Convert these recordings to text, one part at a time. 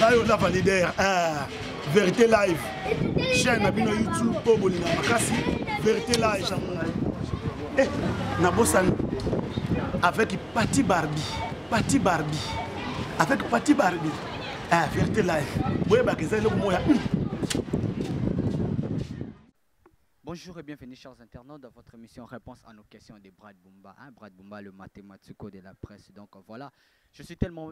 nayo lava leader ah, vérité live chaîne na bino youtube oyo bolinga makasi vérité live eh, nabosani avec pati barbi pati barbi avec pati barbi ah, vérité live boyebaka eza eloko moya hmm. Bonjour et bienvenue chers internautes dans votre émission Réponse à nos questions de Brad Bumba, hein, Brad Bumba le mathématico de la presse. Donc voilà, je suis tellement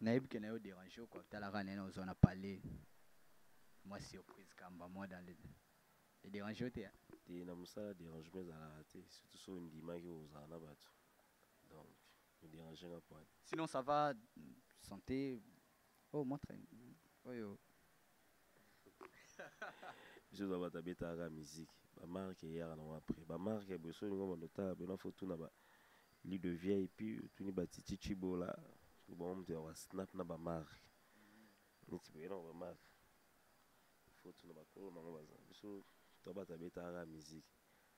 Nayebi que nayo derange yo quoi, tala kaka ndenge nazo zwa na palais. Mwa surprise kamba mwa dans le e derange yo te hein? Te na musala derangement ezalaka te, surtout soki ondimaki kozala na batu. Donc e derange nga point. Sinon ça va santé? Oh montre oyo biso toza bato abetaka kaka miziki bamarke eyaka nango après bamarke ya boso olingo bando otala bino afo tuna ba li de vip otuni batiti cibola bango moto ya basnap na bamarke neti boye nango bamarke fo tuna bakolo nango baza biso toza bato abetaka kaka miziki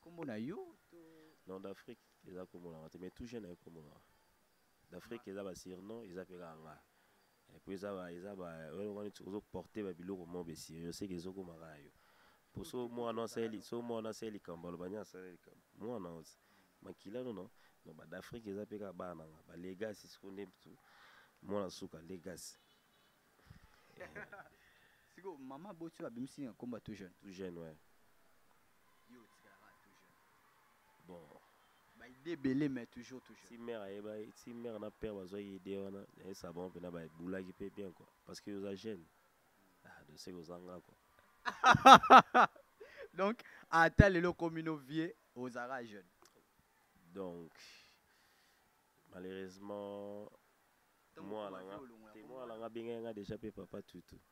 Kombo na yo to Non d'Afrique eza kombo na te mais tout jeune ayebi kombo na d'Afrique eza ba surnom eza pe kaka nga et puis eza ba eza ba oyo ngani ozo porter ba biloko mo be sérieux c'est que ezo koma kaka yo po so mwana asali so mwana asali likambo aloba nya asali likambo mwana ozi makila no no no ba d'Afrique eza pe kaka bana nga ba legacy siko nde mtu mwana suka legacy siko mama botio abimisi na kombo ya tout jeune tout jeune ouais Yo otikalaka tout jeune. Bon. Ba idée ebele mais toujours tout jeune. Si mère ayeba, si mère na père bazwa idée wana, na esa bon pe na ba boulaki pe bien quoi parce que oza jeune. Ah, de ce que oza nga quoi. Donc ata lelo komi no vieux ozaka jeune. Donc malheureusement moi là nga, moi là nga benga nga déjà pe papa tout tout.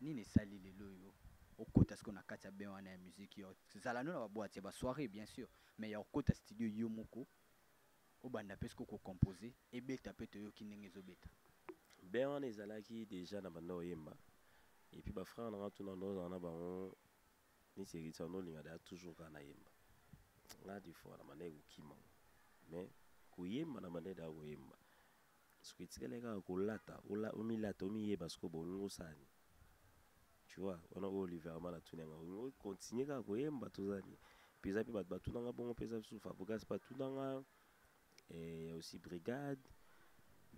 Nini esali lelo oyo okota sikoyo na kati ya bain wana ya musique? Ya kozala no na ba boites, ya ba soirees bien sur, mais ya kokota studio yo moko obanda pe sikoyo ko composer, ebeta pe toyoki ndenge ezobeta? Bain wana ezalaki dejà na banda koyemba et puis ba frères na nga tout na nde ozala na bango neti Heritier wana olinga dejà toujours kaka nayemba. Nga des fois na bandaki kokima mais koyemba na bandaki dejà koyemba. Sikoyo etikali kaka kolata, omilata, omiyeba sikoyo bo olingi osala nini? Tu vois, wana oyo Oliver Amala atuni nga, olingi okontinue kaka koyemba toza nini? Puis eza mpe bato batuna nga bongo, mpe eza lisusu Fabregas mpe atuna nga eh, ya aussi brigade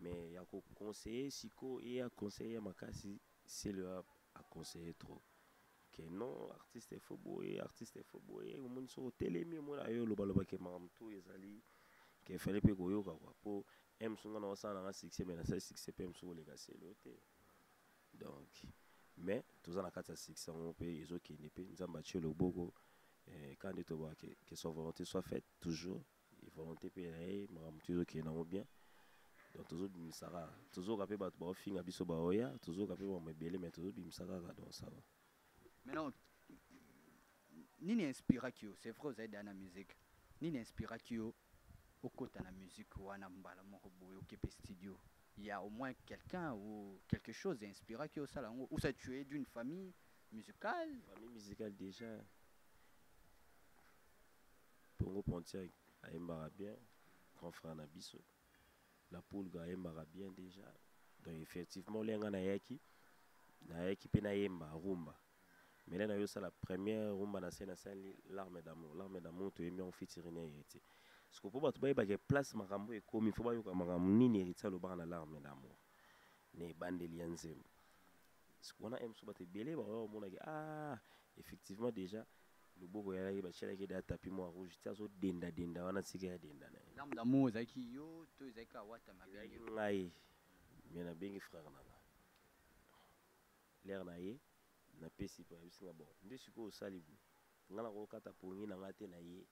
mais ya koconseille sikoyo eya conseille ya makasi selo aconseille trop que non artiste faut boye artiste faut boye omoni soki otelemi omona yo olobaloba ke makambo to ezali ke efale mpe koyoka kua mpo m songa na osala nanga succès mai nasali succès mpe m soki oleka selo te donc mais toza na kati ya succès yango mpe ezokende mpe nzambe atie loboko eh, ka nde tobaka ke, ke soit volonté soit faite toujours volonté mpe na ye makambo motu ezokende yango bien donc tozobimisa kaka tozoka mpe bato baofinga biso baoya tozoka mpe makambo ebele mai tozobimisa kaka donc ça va maintenant nini inspiraki yo c'est vrai ozali deya na musique nini inspiraki yo okota na musique wana mbala moko boye okepe studio il y a au moins quelqu'un ou quelque chose inspiraki yo osala yango ou ça tu es d'une famille musicale famille musicale déjà Pongo Pontiac ayembaka bien, grand frère na biso. La Pulga ayembaka bien déjà. Donc effectivement, olia nga nayaki, nayaki pe nayemba rumba. Mais là nayo sala première rumba na scène asali l'arme d'amour. L'arme d'amour toyembi en featuring ya Heritier. Siko po bato bayeba ke place makambo ekomi, faut bayoka makambo nini Heritier alobaka na l'arme d'amour. Na ebandeli ya nzembo. Siko wana ems bato ebele baoya komona ke ah effectivement déjà loboko ya ye batyelaki da tapi mwa rouge ti azo denda denda wana sika ya denda na ye lame d'amour ezalaki yo to ezalaki awata mabengi ngai me nabengi frère na nga lere na ye napesi mpo yebisi nga bon nde sikoyo osali boye ngai nakokata pongi na ngai te na ye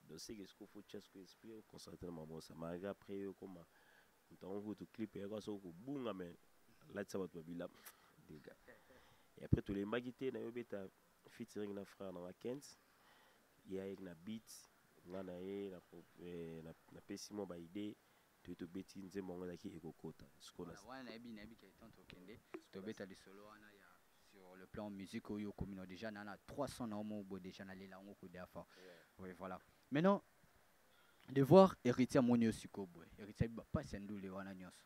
donc seke sikoyo fo tya sikoyo esprit yo concentre na mabosa malgré après yo ekoma moto yango kutu clip eyaka soko kobunga me alatisa bato babila dega e après tolembaki te na yo beta featuring na frère na nga Kent ye ayeki na beat nga na ye na pro- eh, na- napesi mwa ba idée toye tobeti nzembo yango ezalaki ekokota sikoyo na- wana nayebi nayebi ke temps tokende tobeta lisolo wana ya sur le plan musique oyo okomi na déjà na na 300 na yo moko boye déjà nalela yango kuda fort oui voilà maintenant de voir héritier amoni yo sikoyo boye héritier abi bapasi ya ndule wana nyonso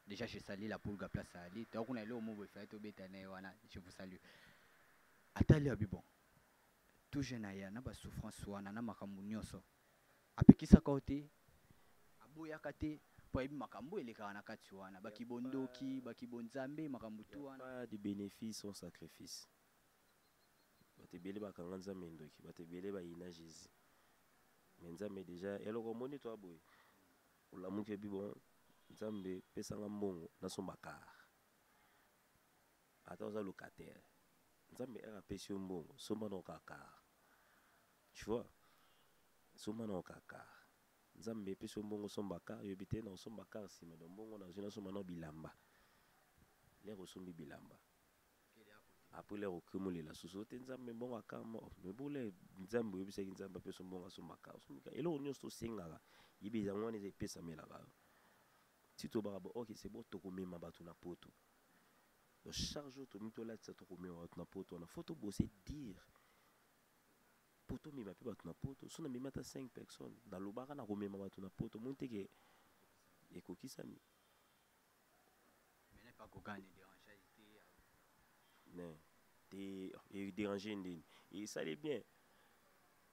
Dejà je salue la pulga place ali to kuna eloko mobo ifai to beta na wana je vous salue atali abi bon tout jeune aya na ba souffrance wana na makambo nyonso apekisaka yo te aboyaka te mpo ayebi makambo elekaka na kati wana bakibondoki bakibonzambe makambo tu wana de bénéfice sans sacrifice bato ebele bakanga nzambe ndoki bato ebele bayina jésus mais nzambe déjà eloko omoni to aboye Olamuki ebi bon nzambe pesa nga mbongo na somba car ata oza locataire nzambe aka pesi yo mbongo somba na oka car tu vois somba na oka car nzambe pesi yo mbongo somba car yo bite na osomba car sima do mbongo na zina somba na bilamba lero sombi bilamba Après leur okimo lela susu te nzambe mbongo akamba oh, mais bole nzambe oyebisaki nzambe apesa mbongo asombaka asombika eloko nyonso tosengaka yebe yango wana eza epesamelaka yo ti tobaka bo ok c'est bon tokomema bato na poto donc chaque jour tomi tolatisa tokomema bato na poto wana fo tobose dire mpo tomema mpe bato na poto so namemi ata 5 personnes nalobaka nakomema bato na poto moni teke ekokisami Mene pa koka ne derangea ye te. Ne te e deranger ndeni. E sale bien.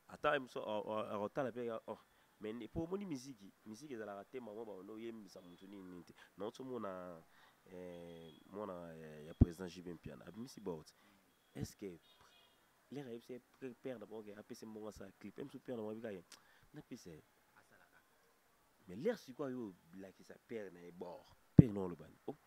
Ata ye muso a kotala pe oh mais po omoni miziki miziki ezalaka te mama ba ondo yembisa mutu nini nini te na oso mona eh, mwana eh, ya président JB Mpiana abimisi bord est ce que lera yebisa père na bango ke apesi mbongo asala clip emisu père na bango abika ye napesa ye Mais l'air siko ayo bilakisa père na ye bord. Père na olobani. Oh.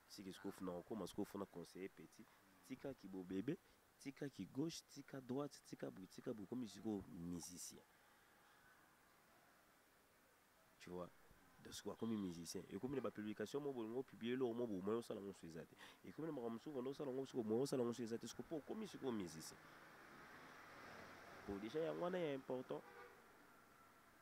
Siki skof na okoma skof na conseiller petit. Tika ki bo bebe, tika ki gauche, tika droite, tika bout, tika bout comme siko musicien. Tu vois donc sikoyo akomi musicien ekomi na bapublication mo bolingo opiblie eloko mo bomo osala ngo so eza te ekomi na makambo mosusu kondo osala ngo sikoyo moyo osala ngo so eza te sikoyo mpo okomi sikoyo musicien po déjà yango wana ya important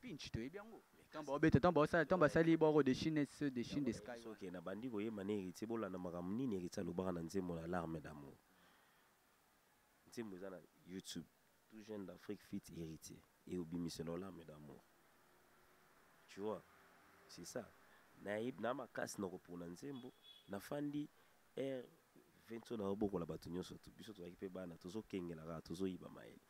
pinch toyebi yango ntango baobeta ntango baosala ntango basali boko de chine se de chine de sky soki nabandi koyemba na héritier bolanda makambo nini héritier alobaka na nzembo na larme d'amour nzembo eza na youtube tout jeune d'afrique fit héritier eyobimisela larme d'amour tu vois c'est ça nayebi na makasi na kopona nzembo nafandi r 20 oyo nayobokola bato nyonso biso tozalaki mpe bana tozokengela kaka tozoyiba mayele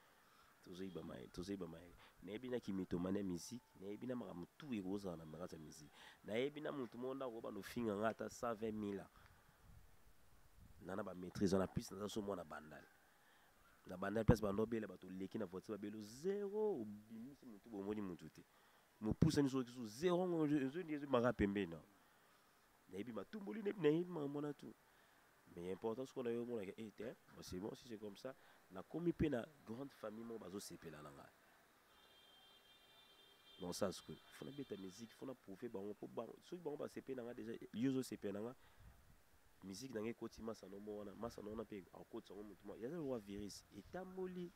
tozoyiba mayele tozoyiba mayele nayebi na kimitomane ya miziki nayebi na makambo tu ekozala na makati ya miziki nayebi na motu moko ndako banda ofinga ngai ata 120 mila na na bamaîtrise wana plus naza so mwana bandal na bandal place banda obela bato oleki na voiture babelo zero obimisi motu bomoni motu te mopusani soki so zero ngo ezomaka pembeni nao nayebi matumboli nayebi nayebi makambo wana tout mais important sikoyo nayo omonaka e eh, te bon c'est bon si c'est comme ça nakomi mpe na grande famille moko bazosepela na ngai dans ça sikoyo fona beta musique fona prouve bango mpo bango soki bango basepeli na ngai déjà yo ozosepela na ngai musique na ngai ekoti masano mo wana masano wana mpe akotisa yango motu mwa yaza lokola virus etamboli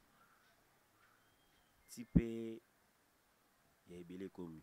ti mpe ya ebele ekomi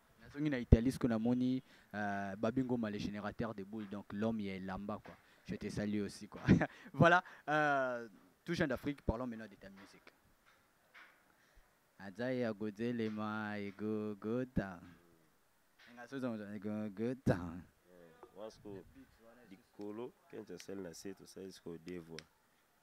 nazongi na Italie siko namoni euh, Babi Ngoma le générateur de boules donc l'homme ya elamba quoi je te salue aussi quoi voilà euh, tout jeune d'Afrique parlons maintenant de ta musique aza ya kozelema egogota engasozangoza egogota wasko likolo kente asali na se tosali sikoyo devoir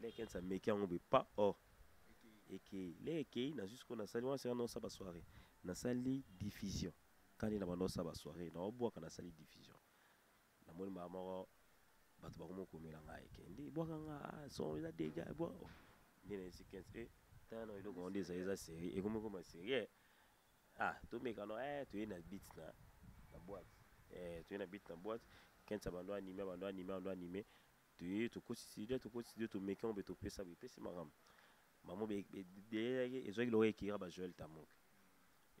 Lea Kens ameki yango boye pa oh ekei le ekei nazwi sikoyo nasali wana seka nosa basoire nasali diffusion kani na banosa basoire naobwaka nasali diffusion namoni mbala moko bato bakomi okomela ngai ekende ebwaka nga ah, son eza dega ebwa oh. nde nayesi 15 e eh, tala na eloko yango nde ezali eza serie ekomi ekoma serie eh. ah tomeka no eh, toye na bit na na boite eh, toye na bit na boite kensa bando anime bando anime bando anime toye tokotisi de tokotisi de tomeki yango be topesa boye epesi makambo bango belelaki ezwaki loko ekira ba joel tamok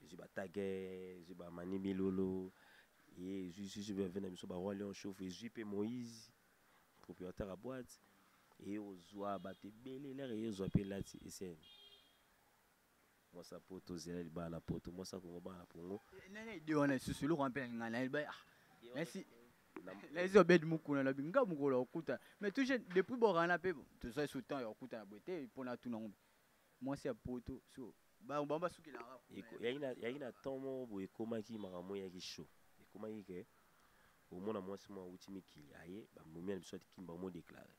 ezwi batage ezwi bamani milolo ye ezwi susu bave na biso baroi lion chauffe ezwi mpe moïse propriétaire ya boite eye ozwa bato ebele lere eye ozwa mpe lati esene Mwasa poto zela libala na poto mwasa kongo bana na pongo. Eh, nani ide wana lisusu eloko wana mpe na ngai nayebi ah nasi nayebi obedi mokuna na binga mokolo ya kokuta mais toujours depuis borana mpe tozwa esu temps ya kokutana boye te mpo na tuna ngombe mwasi ya poto so bango basukelaka yaki na temps moko boye ekomaki makambo eyaki show ekomaki ke omona mwasi mwa awuti mikili aye bamomi ya biso ati kimba omo deklare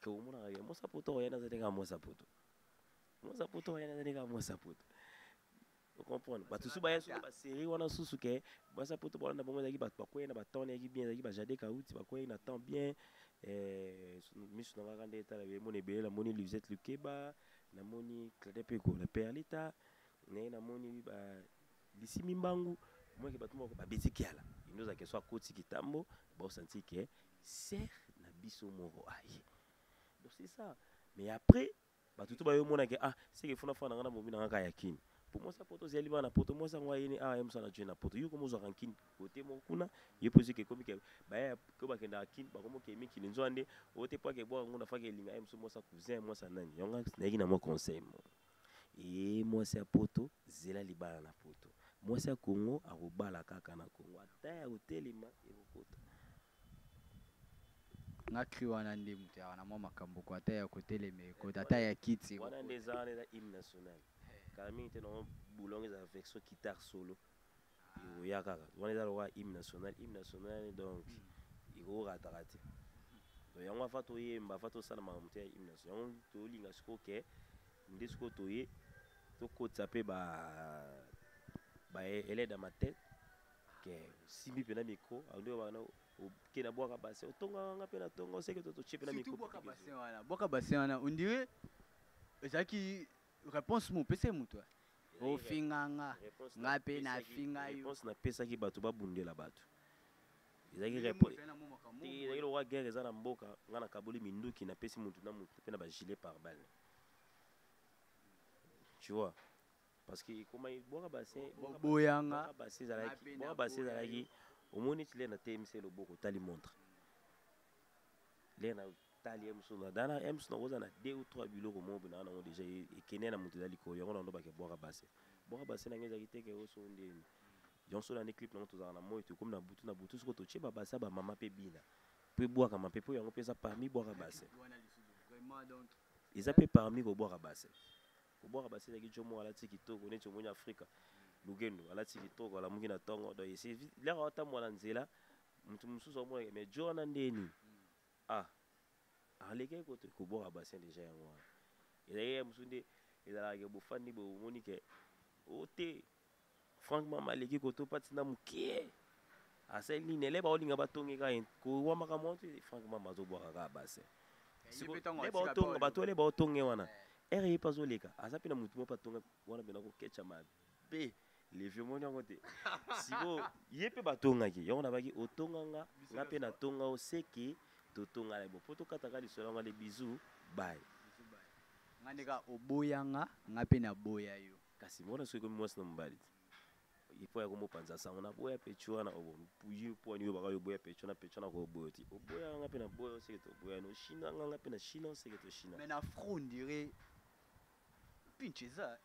ke omonaka ke mwasi ya poto oyo ayani azali kaka mwasi ya poto mwasi ya poto oyo ayani azali kaka mwasi ya poto ocomprendre bato susu baya susu baserie wana susu ke mwasi ya poto bolanda bango ezalaki bato bakwei na batemp nayaki bien ezalaki bajade kauti bakwei na temps bien eh, miso na ngaka nde etala bemona ebele namoni lisette lukeba namoni clade mpe kola perlita naye namoni lisimi mbangu omweke bato moko babeti kiala indoza ke so akoti kitambo baosanti ke Sœur na biso moko aye. Donc c'est ça. Mais après, bato to bayo mona ke ah seke fona fana ngana bomi nanga ya kin. Pour moi ça poto zeli bana poto moi ça ngwa yene ah yemsa na jena poto. Yo komo zwa kin côté mo kuna ye posi ke komi ke ba ya ko ba kenda kin ba komo ke mi kin nzwande ote pa ke bo ngona fa ke linga yemso moi ça cousin moi ça nani. Yonga na yiki na mo conseil mo. Eeh mwasi ya poto zela libala na poto mwasi ya Congo akobala kaka na Congo ata ya kotelema ekokota. Nga cri wana nde mutu ya wana mwa makambo ko ata ya kotelema ekota ata ya kiti ekokota. Wana nde eza wana eza hymne national kala mingi te na mwa boulonga ezala version guitare solo ekoya kaka wana eza lokola hymne national hymne national donc ekorataka te donc yango afa toyemba afa tosala makambo te ya hymne national yango tolinga sikoyo ke nde sikoyo toye tokotisa mpe ba ba elede ya matete ke osimbi mpe na mikro nde wana oke na bwaka bassin otongaka nga mpe na tonga oseke tototie mpe na mikro bwaka bassin wana ondire ezalaki Réponse mo pese mutu. Ofinga nga. Nga pe na finga yo. Réponse na pesaki batu ba bundela batu. Ezaki réponse. Ezaki lokola guerre eza na mboka, nga na kaboli minduki na pesi mutu na mutu pe na ba gilet par balle. Tu vois? Parce que comment boka bassin, boka boyanga, boka bassin zalaki, boka bassin zalaki. Omoni tile na TMC loboko tali montre. Lena tali ems na dana ems na oza na deux ou trois biloko moko bina na déjà ekene na mutu dali ko yango na ndo ba ke boka basse boka basse na ngeza kiteke oso ndeni donc so na ni clip na moto zaka na moyo to comme na butu na butu siko to cheba bassa ba mama pe bina pe boka ma pe po yango pesa parmi boka basse eza pe parmi ko boka basse ko boka basse na ki jomo ala tiki to ko ne jomo ni afrika lugendo ala tiki to ko ala mungi na tongo donc c'est là atambola nzela mutu mususu amonaka mais jona ndeni Ah alekaki ko ko bwaka bassin dejà yango wana ezalaki ya mosusu nde ezalaka ke bofandi boye bomoni ke o te Franck mama aleki koto pati na mokie asali nini ele baolinga batongi ka kowamaka mwa te Franck mama azobwaka kaka bassin batonga bato ele baotonge wana ere ye mpe azoleka aza mpe na motu moko mpe atonga wana mpe nakoketcha mabe pe levi omoni yango te siko ye mpe batongaki yango nabaki otonga nga nga mpe natonga o seke totongana bo mpo tokataka lisolo yango ale bizu bai nga ndeka oboya nga nga mpe naboya yo kasi mona soki ekomi mwasi na mobali te epo ya komopanza sango naboya pecho wana oboyi mpo wani oyobaka yo oboya pecho na pecho na koboyo te oboyaka nga mpe naboya oseke toboyani oshina nga nga mpe na shina oseke toshina mais na fro ndire pinche eza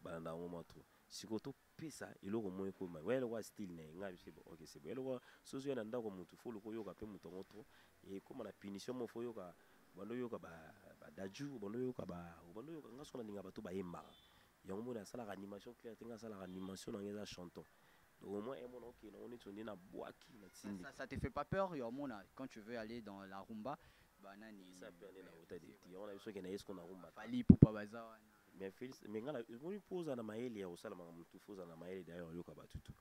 balanda yango mwa trop sikoyo topesa eloko moko ekoma oya eloko ya style na ye ngai biso bo ok sebo eloko soki ozoya na ndako ya motu fo oluka oyoka mpe moto yango trop ekoma na punition moko fo oyoka obanda oyoka badaju obanda oyoka obanda oyoka ngai soki nalinga bato bayembaka yango moni asalaka animation claire te ngai asalaka animation na ngai eza chanton donc au moins emona okende yango neti onde na bwaki na tindi ça te fait pas peur ya omona quand tu veux aller dans la rumba banani eza peur nde na ota de ti yango na biso okende yesko na rumba fali pupa baza wana Mais Félix, mais ngala, moni po oza na mayele ya kosala makambo tout, faut na mayele d'ailleurs yoka batu tout.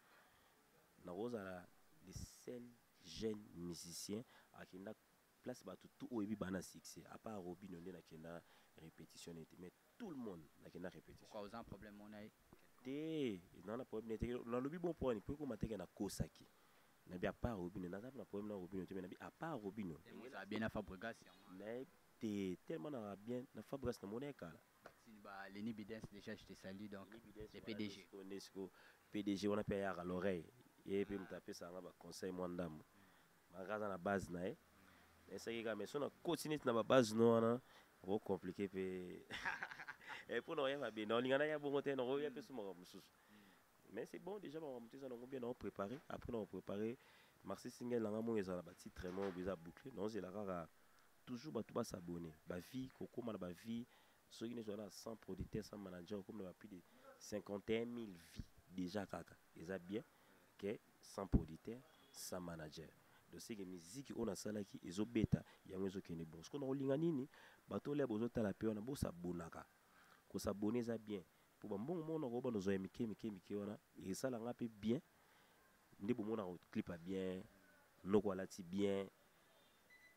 Na kozala le seul jeune musicien akenda place batu tout oyebi bana succès à part Robino nde nakenda répétition nete mais tout le monde nakenda répétition. Kwa oza problème mona ye? Te, na na problème nete na lobi bon point po ko mateke na kosaki. Na bi à part Robino, na za na problème na Robino te mais na bi à part Robino. Eza bien na Fabregas. Na te tellement na za bien na fabregas na mona ye kala Maxine ba Lenny Bidens déjà je te salue donc le PDG nde siko PDG wana pe ayaka l'oreille ye pe moto apesa nga ba conseil mwa ndambo malgré aza na base na ye esaki kaka mais so na koti neti na ba base no wana oko compliqué pe mpo na oya mabe na olinga na ya bongo te na oya pe so makambo mosusu mais c'est bon déjà makambo moto eza nango bien nao préparé après nao préparé marsi singel nanga moko ezala na batitre moko eza boucle naozela kaka toujours bato ba s'abonner ba vie kokoma na ba vie soki nde ozala na 100 producteur 100 manager okomi na ba plus de 51000 vie déjà kaka eza bien ke 100 producteur 100 manager donc seke miziki oyo nasalaki ezobeta yango ezokende bon sikoyo nakolinga nini bato olia bozotala mpe wana bosabonaka kosabone eza bien mpo bambongo moko nakoba nozwa ya mike mike mike wana esala nga mpe bien nde bomonaka clip ya bien noko alati bien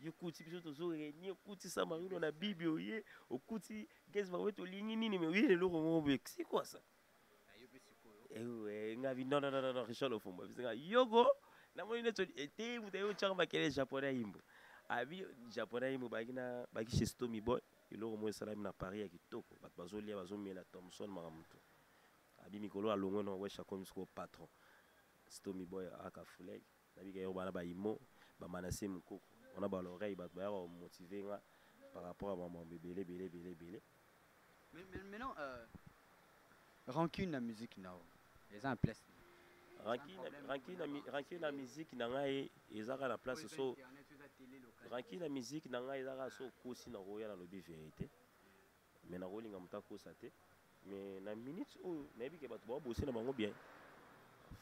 yo kuti biso tozo renie okuti sa mayulo na bibi oye okuti gezi bango tolingi nini me oyele eloko moko boye sikwasa ewe nga bi non non non non richard ofumba biso nga yogo namoni neti ete moto aye otyaka makele japonais yimbo abi japonais yimbo baki na baki chez tommy boy eloko moko esalami na paris ya kitoko bato bazolia bazomela thomson makambo to abi mikolo alongwe na wesh akomi sikoyo patron stomy boy aka fulege Nabika yoroba na ba imo ba manasse mukoko wana ba l'oreille batu bayaka ko motiver nga par rapport ya ba mambo ebele ebele ebele ebele. Mais maintenant euh, rancune na musique na yo eza na place ranki na miziki na ngai ezaka na place so ranki na miziki na ngai ezaka so okosi na koya na lobi verité mais nakolinga moto akosa te mais na minute oyo nayebi ke bato babose na bango bien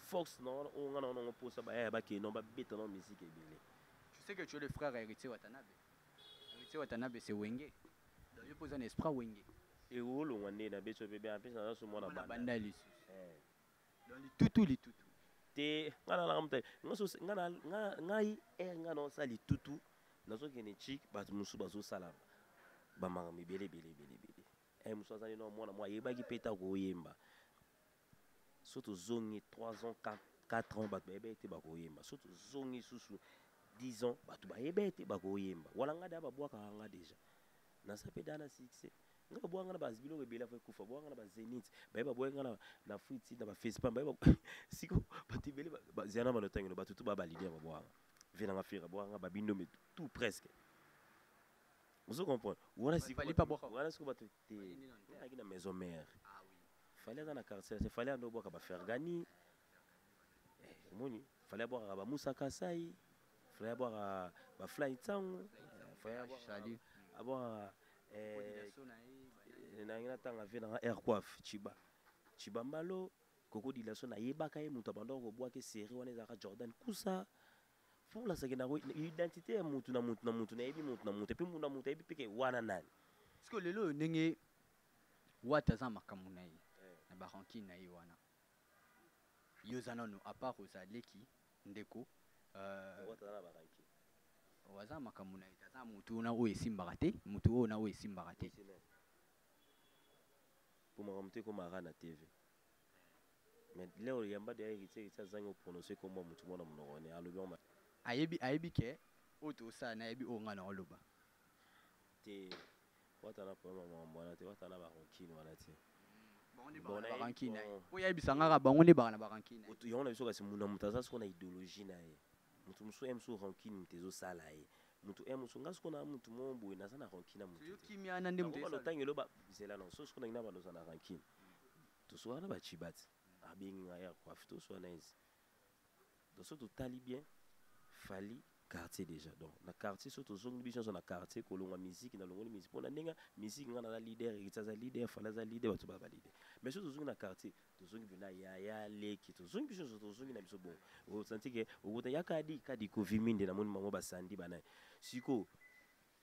force na wana oyo ngai na wana yango mposa bayaya bakei na babeta na miziki ebele tu sais que tu es le frère héritier watanabe héritier watanabe c'est wenge donc yo mpo oza na esprit wenge ekolongwa nde nabeti oyo mpe bien apesi naza so mwana bandali lisusu eh. Dans les tutu les tutu. Te nga na la mutali. Nga so nga na nga ngai er nga na sali tutu. Nazo kene chik ba musu bazo sala. Ba manga mibele bele bele bele. Eh musu azali no mwana mwa yebaki peta ko yemba. So to zongi 3 ans 4 4 ans bato bayebaki te bakoyemba so tozongi susu 10 ans bato bayebaki te bakoyemba wala nga da babwakaka nga deja naza mpe da na succès nga baboya nga na ba biloko ebele avo ekufa baboya nga na ba zenit baye baboya nga na fuiti na ba facepam baye siko bato ebele ziana bana otangino bato tu babalide ya baboya nga vie nanga fira boya nga babindombe tout presque ozo comprendre wana sikowana siko bato te ayaki na maison mère ah fale aza na quartier se fale ando obwaka bafergani omoni fale abwakaka bamusa kasai fale abwaka bafly ntango fale abwaka nangi natanga ve nanga air coiffe chiba chiba mbalo koko dilaso nayebaka ye moto abandaka kobwake serie wana ezalaka jordan kusa folasaki nango identité ya motu na motu na motu nayebi motu na motu epuis motu na motu ayebi mpeke wana nani sikoyo lelo oyo ndenge wata aza makambo na ye eh. na barankine na ye wana Yo oza nanu a part oza leki ndeko euh aza na makambu naye te aza mutu na oyo esimbaka te mutu oyo na oyo esimbaka te po makambu te ekoma kaka na TV mais leo oyamba deja heritier heritier azangi o prononcer kombo ya mutu moko na munoko ne alobi yango mabe ayebi ayebi ke oyo tosala nayebi oyo nga nao loba te wata na problème ya makambo wana te wata na barankine wana te barankine oyo yayebisa nga kaka bango nde baka na barankine yango na biso kasi muna moto aza soko na idéologie na ye moto mosusu ye mosusu rankine moto ezosala ye moto ye mosusu nga soko na moto moko boye naza na rankine na motokimiana nde mototango eloba zela na so soko nangi na baloza na rankine toswana na bacibati abengi nga ya kwafi toswana esi donc soki totali bien fali quartier déjà donc na quartier soki tozongi biso nyonso na quartier kolongwa miziki na longoli miziki mpo na ndenge miziki ngai naza leader eriti aza leader fali aza leader bato baa baleader mais soki tozongi na quartier tozongi mpena yaya leki tozongi biso nyonso tozongi na biso bongo osanti ke okuta ya kadi kadi koviminde namoni bango basandi banaye sikoyo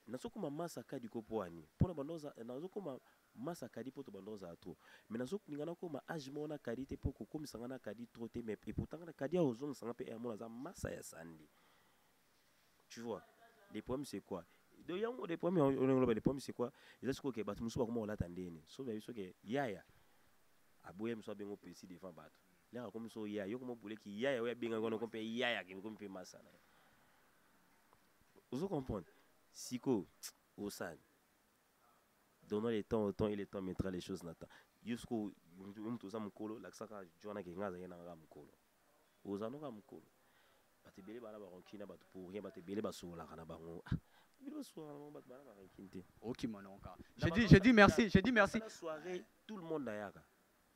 Nazo koma masa kadi ko poani pona banda oza nazo koma masa kadi poto banda ozala trop mais nazo linga na koma age moko na kadi te po ko komisa nga na kadi trop te mais epoutant nga na kadi azo zongisa nga pe eh amona aza masa ya sandi tu vois le problème c'est quoi donc yango le problème yango olingi loba le problème c'est quoi eza siko ke batu musu bakoma kolata ndene so ba biso ke yaya aboya miso abengo pesi devant batu leka komi so yaya yo komo bule ki yaya oya benga kono kompe yaya ke komi pe masa na ozo comprendre siko osani donnant le temps au temps et le temps mettra les choses na temps yo siko moto oza mokolo lakisaka jwana ke nga azalaki na nga mokolo oza noka mokolo bato ebele bana baronki na bato pour rien bato ebele basololaka na bango ah, bino basololaka na bango bato bana baronki te okima nonka je dis merci je dis merci soirée tout le monde ayaka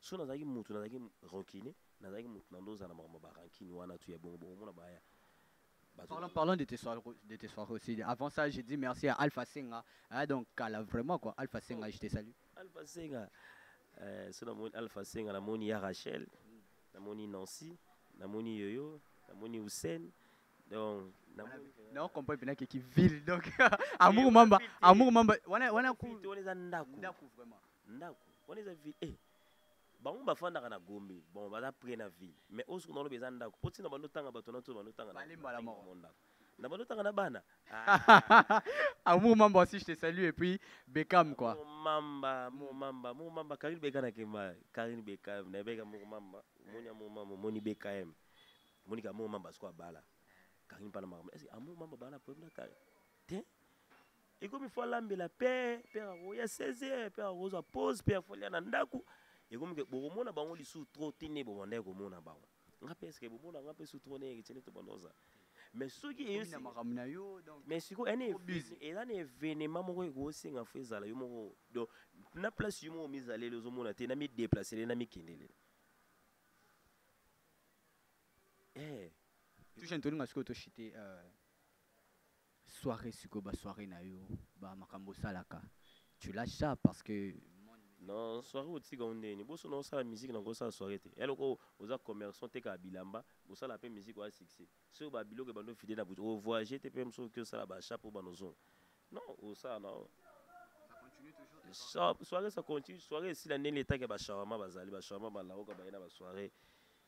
so nazalaki mutu nazalaki rancune nazalaki mutu na ndoza na makambo ba rancune wana tu ya bongo bongo mona baya Parlons, parlons de tes soirées, de tes soirées aussi. Avant ça, j'ai dit merci à Alpha Senga. Hein, donc, Kala, vraiment quoi. Alpha Senga, je te salue. Alpha Senga. Euh, so namoni Alpha Senga, namoni ya Rachel, namoni Nancy, namoni Yoyo, namoni Hussein. Donc, namoni Non, comprends bien que qui ville. Donc, amour mamba, amour mamba. Wana wana ku. Wana eza ndaku. Ndaku vraiment. Ndaku wana eza ville eh bango bafandaka na Gombe bon baza près na ville mais osuku na lobe eza ndaku po tina bando tanga bato na to bando tanga na mbala moko ndaku na bando tanga na bana ah. amour mamba aussi je te salue et puis Beckham quoi amour mamba amour mamba amour mamba Karine Beckham na kemba Karine Beckham na beka amour mamba moni amour mamba moni Beckham moni ka amour mamba siko abala Karine pana mamba est-ce amour mamba bana problème na Karine te ekomi fo alambela père père akoya 16 heures père akozwa pause père fo alia na ndako ekomi ke bokomona bango lisusu trop te nde bobandaki komona bango nga mpe eske bomona nga mpe su trop ndenge tiene tobanda oza mais soki mais sikoyo eza na événement moko ekosenga fo ezala yo moko donc na place yo moko mizaleli ozomona te namideplacele namikendele eh. touche ntolinga sikoyo toshite euh, Soiree sikoyo ba soiree na yo ba makambo osalaka tu lâche ça parce que na soirée otika yango ndenge nini boso na osala musique na kosala soirée te ya loko oza commerçant tekaka bilamba bosala mpe musique oya succès soki ba biloko ebandi ofide na butu o voyage te mpe mosusu oki osala ba achat mpo bana ozonga non osala na yo soirée ça continue soirée esila ndenge etake ba shawarma bazali ba shawarma balaoka baye na ba soirée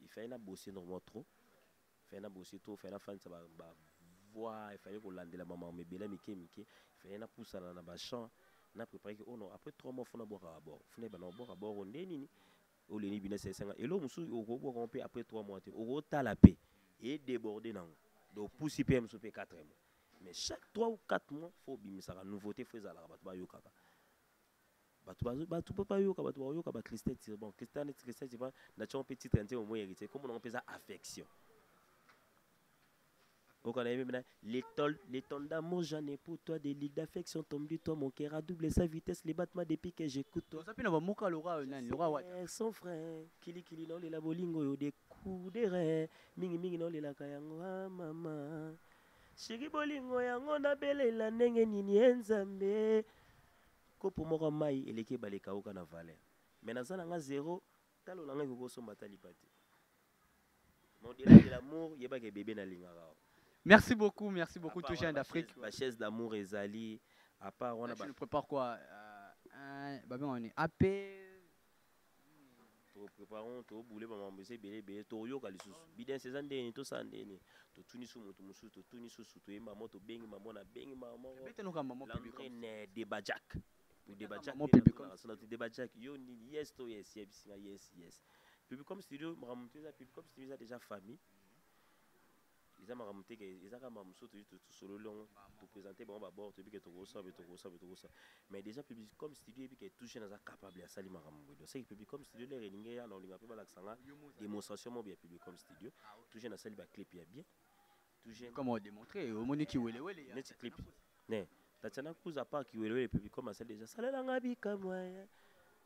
Il fallait na bosser normalement trop. Il fallait na bosser trop, il fallait na fanisa ba, ba voix, il fallait kolandela ba maman mebela mike mike, il fallait na pusana na ba chants, na préparer que oh non, après 3 mois fona bwaka bord. Fona ba na bwaka bord oh, nde nini? O leni bina sesa nga. Elo musu oko bwaka mpe après 3 mois te. Oko tala pe et déborder nango. Donc pusi pe musu pe 4 mois. Mais chaque 3 ou 4 mois faut bimisaka nouveauté faut ezalaka bato ba yokaka. bato bazo bato mpe bayoka bato bakoyoka ba christin tire bon christin neti christin tire nation mpe titre ya nzembo moi héritier kombo nango mpe eza affection okana ye mpe na l'étole l'étole d'amour j'en ai pour toi des ligues d'affection tombe du toi mon cœur a double sa vitesse les battements depuis que j'écoute toi oza mpe na bamoka loka oyo nani loka wata Eh, son frère kilikili naolela bolingo oyo de kudere mingimingi naolelaka yango a mama sheri bolingo yango nabelela ndenge nini ye nzambe Kopo moko ya mayi eleki ebale ekawuka na valeur. Mais naza na nga zero, talo na nga ekoki kosomba ata lipa te. Mais au delà de l'amour, yeba ke bebe nalingaka yo. Merci beaucoup, merci beaucoup tout jeune d'Afrique. Ba chaise d'amour ezali à part wana ba. Tu nous prépares quoi? Euh, un, ba benga ni AP to préparons to boule ba mambo eza ebele ebele toyoka lisusu bidens eza ndeni tosala ndeni totuni su moto mosusu totuni susu toyemba mo tobengi mamo nabengi mamolandre ne deba jack deba jackasona to deba jack yo nini yes to yes yebisi nga yes yes pibicom studio makambo motu eza pibicom studio eza déjà famille eza makambo te ke eza kaka makambo mosusu toyei tosololi yango topresente bango babord toyebi ke tokosala boye tokosala boye tokosala mais déjà publicom studio yebi ke touche naza capable asali makambo boye donc seke publicom studio lere elingi eya na olinga mpe balakisa nga démonstration moko ya publicom studio touche nasali baclip ya bien touche comme odemontre omoni kiwelewele neti clip ne tatiana cruz apart kiwelewele publicom asali déjà salela nga bikamwa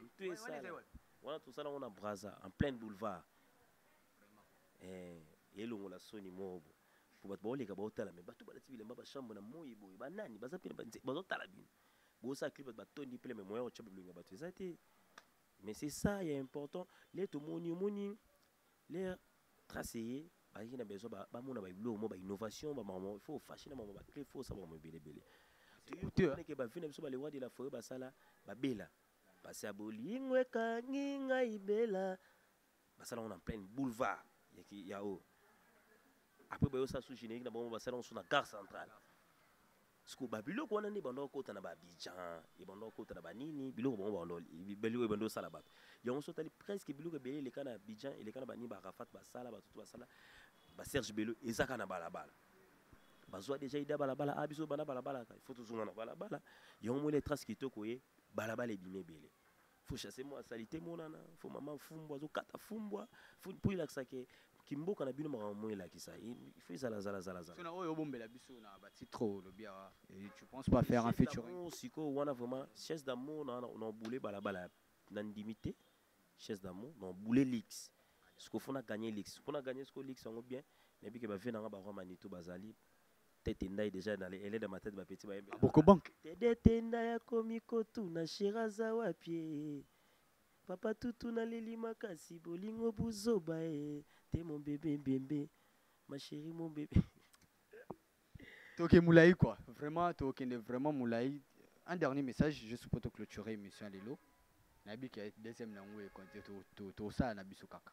Mutu esala. Wana tosala ngo na Brazza en plein boulevard. Eh, elongo la soni mobo. Po bato baoleka baotala me bato balati bilemba ba chambre na moi boye ba nani baza pene ba bazotala bino. Bosala clip bato batondi pele me moyen ocha bilongi ya bato eza te. Mais c'est ça ya important. Le tomoni omoni Leur trace eye bazalaki na besoin ba- bamona babiloko moko bainnovation bamamo il faut ofashe na mamo baclé faut osala mamo ebelebele coûteux, hein. ke bavi na biso balewa de la foret basala babela basi ya bolingo ekangi ngai bela basala yango na plaine boulevard ya ki- ya oyo après baye osala su générique na bango basala yango su na gare centrale siko ba biloko wana nde ebanda kokota na baabidjan ebanda kokota na banini biloko bango babiloko ebanda kosala bato yango so otali presque biloko ebele eleka na abidjan eleka na banini baarafat basala bato to basala baserge belo ezaka na balabala bazwa deja ida balabala a ah, biso bana balabala il faut tozonga na balabala yango moni etrace kitoko ye balabala ebimi ebele faut chasser moi salite monana faut maman fumbwa zo kata fumbwa faut pour il que kimboka na bino makambo moi la kisa il faut zala zala zala zala sona oyo bombela biso na ba titre le bien et tu penses pas faire un featuring siko wana vraiment chaise d'amour na na boule bala bala na ndimité chaise d'amour na boule lix siko fona gagner lix fona gagner siko lix yango bien na bike ba vie na nga ba roi manitou bazali tete ndai deja na elede ya matete bapeti bayembe ah, bokobanke tedete ndai akomi kotuna shera aza wapi eh? papa tutu naleli makasi bolingo buzoba e te mombebe mbembe masheri mombebe toke molai quoi vraiment tokende vraiment molai un dernier message juste mpo toclôturer émission ya lelo nayebi ke deuxième na yango ekosala na biso kaka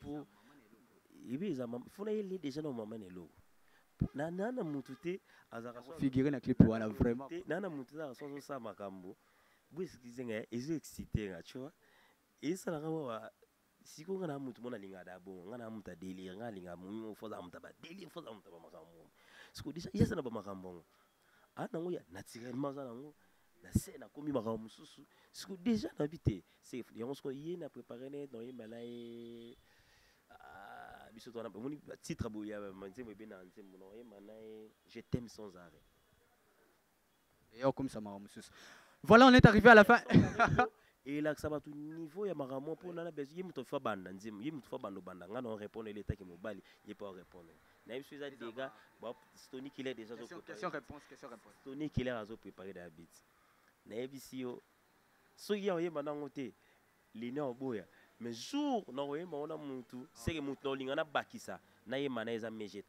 po ebi eza fona yeli deja na mama na eloko na na na mutu te azaka so figure na clip wana vraiment te na na mutu na so so sa makambo bo excuse nga ezo exciter nga tu vois esa na kama wa siko nga na mutu mona linga da bo nga na mutu delire nga linga mu fo za mutu ba delire fo za mutu ba makambo siko deja yesa na ba makambo ah nango ya naturellement aza nango na se nakomi makambo mosusu siko déjà nayebi te yango siko ye na prépare ne donc yemba na ye ah, biso twana omoni titre boye ya nzembo ebe na nzembo na oyemba na ye je t'aime sans arrêt eye okomisa makambo mosusu voilà on est arrivé à la fin elakisa bato niveau ya makambo mpo nana bezo ye moto afa banda nzembo ye moto afa banda obanda ngai na orépondre ele etaki mobali ye mpe orépondre nayebi so eza dega stony killer déjà stony killer azo prépare da bit nayebisi yo soki ya oyemba nango te lina oboya mais jour na oyemba ngo na mutu seke mutu na olinga nabakisa nayemba na eza mg 30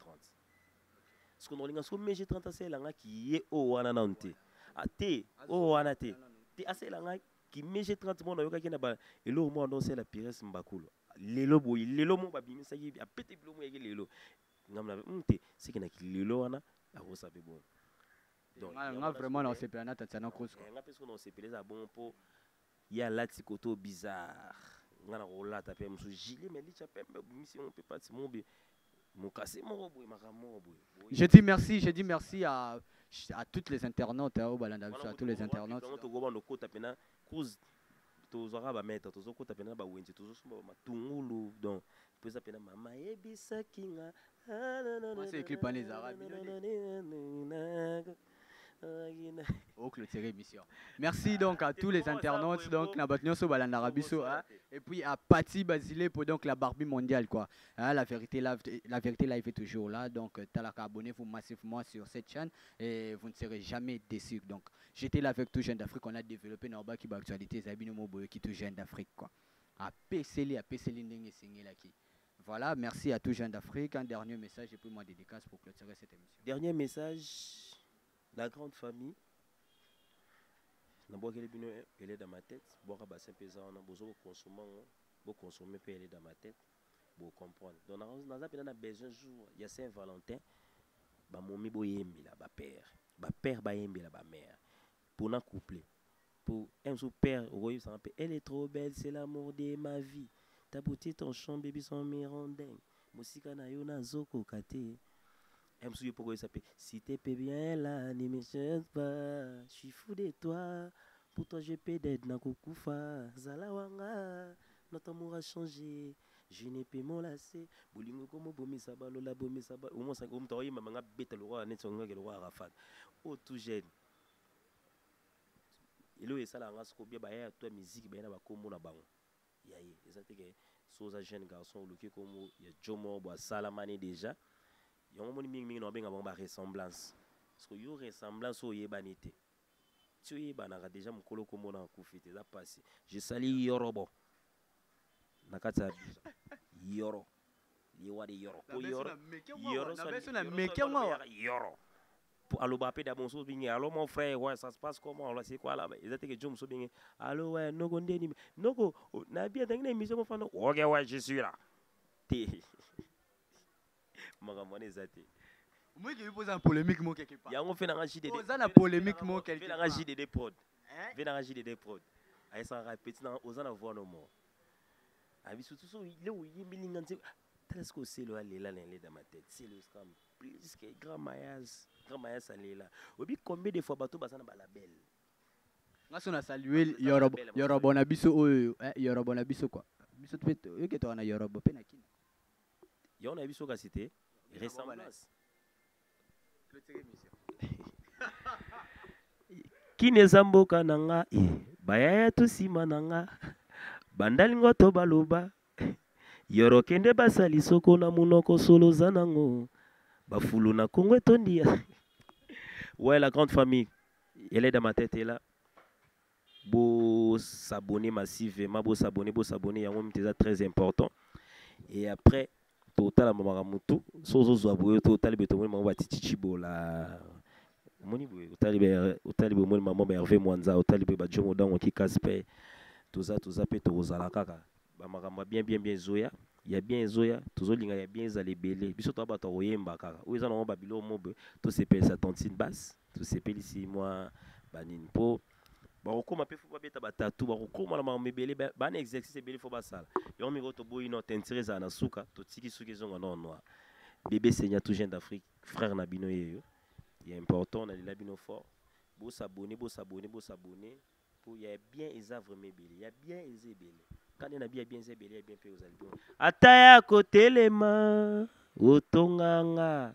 siko na olinga soko mg 30 asalela nga kiye oyo wana nanu te ate ah, oyo wana te te asalela nga ki mg 30 mona oyokaki na eloko mwana ndosala pires mbakulu lelo boye lelo mo babimisaki apete bilo mo yaki lelo ngambo na hmm, te seke na kilelo wana akosa mpe bongo nga vraiment na osepela na tatiana kosko eh, nga mpe soki na osepela eza bongo mpo ye alati koto bizarre nga na kolata mpe mosusu gile me licha pembe obimisi yango mpe pati mobe mokasi moko boye makambo moko boye je dis merci je dis merci à à toutes les internautes hein, au balanda biso à tous les internautes tokobanda okota mpena Cruz tozwaka ba mètre tozokota pena na bawenze tozosomba ba matungulu donc mpo eza pena mama yebisaki nga Mwasi ya clip wana ezalaka bino nde. o clôture émission merci donc à tous les internautes donc na bato nyonso balandaka biso hein. et puis à Patty Basile pour donc la Barbie mondiale quoi Hein, la vérité la, la vérité live est toujours là donc euh, talaka abonnez-vous massivement sur cette chaîne et vous ne serez jamais déçus donc J'étais là avec tout jeune d'Afrique, on a développé na obaki ba actualité ezali bino mo boyoki tout jeune d'Afrique quoi. Apeseli apeseli ndenge esengelaki. Voilà, merci à tout jeune d'Afrique. Un dernier message et puis moi dédicace pour clôturer cette émission. Dernier message, la grande famille. nabwakeli bino elede ya matete bwaka bassin mpe eza wana bozo bokonsome yango bokonsome mpe elede ya matete bocomprendre donc naza mpenza na besoin jour ya saint valentin bamomi boyembela bapere ba père bayembela ba mère pona couple po un jour père okoyebisa nga mpe elle est trop belle c'est l'amour de ma vie ta beauté ton chant baby son mirondeng mosika na yo nazokoka te un jour yo mpe okoyebisa mpe si te pe bien là ne me change pas je suis fou de toi pour toi je peux d'être nakokufa zala wanga notre amour a changé Je ne peux me lasser bolingo ko mobomisa ba lola bomisa ba omo sa omo taoyi mama nga beta lokola neti onga ke lokola Arafat o tout jeune elo esala nga soko bia ba ya toi musique ba na ba kombo na bango ya ye eza te ke so za jeune garçon oluki kombo ya Jomo bo asala mani déjà yango moni mingi mingi na benga bango ba ressemblance soko yo ressemblance oyebani te ti oyebanaka deja mokolo kombo na akufi te eza mpasi je sali yorobo na kati ya yoro liwa de yoro po yoro yoro yoro aloba mpe da mosusu bingi alo mon frère ouais ça se passe comment on c'est quoi là eza teke jo mosusu bingi alo ouais noko ndeni noko na bien tangi na émission mofana ok ouais je suis là te makambo wana eza te omeki mpo oza na polémique mo quelque part yango mpe nanga jdd oza na polémique mo quelque part nanga jdd prod mpe nanga jdd prod ayesaka petit nanga oza na voix no mo abi surtout so le oyembi linga nse tala sikoyo selo alela na eleda ma tete selo escam plus que grand mayas grand mayas alela oyebi combien de fois bato baza na balabel nga so na salue yorobo yorobo na biso oyo eh, yorobo na biso kwa biso mpe toyoki toka na yorobo mpe na kina Yango nayebi so kasi te ressemblance. Kini eza mboka na nga eh, bayaya to nsima na nga bandali ngo to baloba yoro kende basali soko na monoko solo oza nango bafulu na kongo etondi ya ouais la grande famille elle est dans ma tête est là Bo s'abonner massivement, bo s'abonner, bo s'abonner, yango mte eza très important. Et après, totala mamaka mutu, so zo zwa boyo to tali beto moni mamaka titi chibola. Moni boyo, tali be, tali be moni mamaka Hervé Mwanza, tali be ba Jomo Dango ki Kaspe, toza toza pe to kozala kaka. ba makambo ya bien bien bien ezoya ya bien ezoya tozolinga ya bien ezala ebele biso toa bato ya koyemba kaka oyo eza nango babilo mobe tosepelisa tontine base tosepelisi mwa banini mpo bakokoma mpe fo babeta batatu bakokoma na makambo ebele bana exercice ebele fo basala yango mikolo toboyi no tentire ezala na suka totiki suki ezonga nor noir bebe senya tout jeune d'afrique frère na bino yeyo ya important nalela bino fort bosabone bosabone bosabone Po ya bien eza vraiment ebele. Ya bien eza ebele. Kanda na bien ya bien eza ebele ya bien pe ozali bien. Ata ya ko telema otonga nga.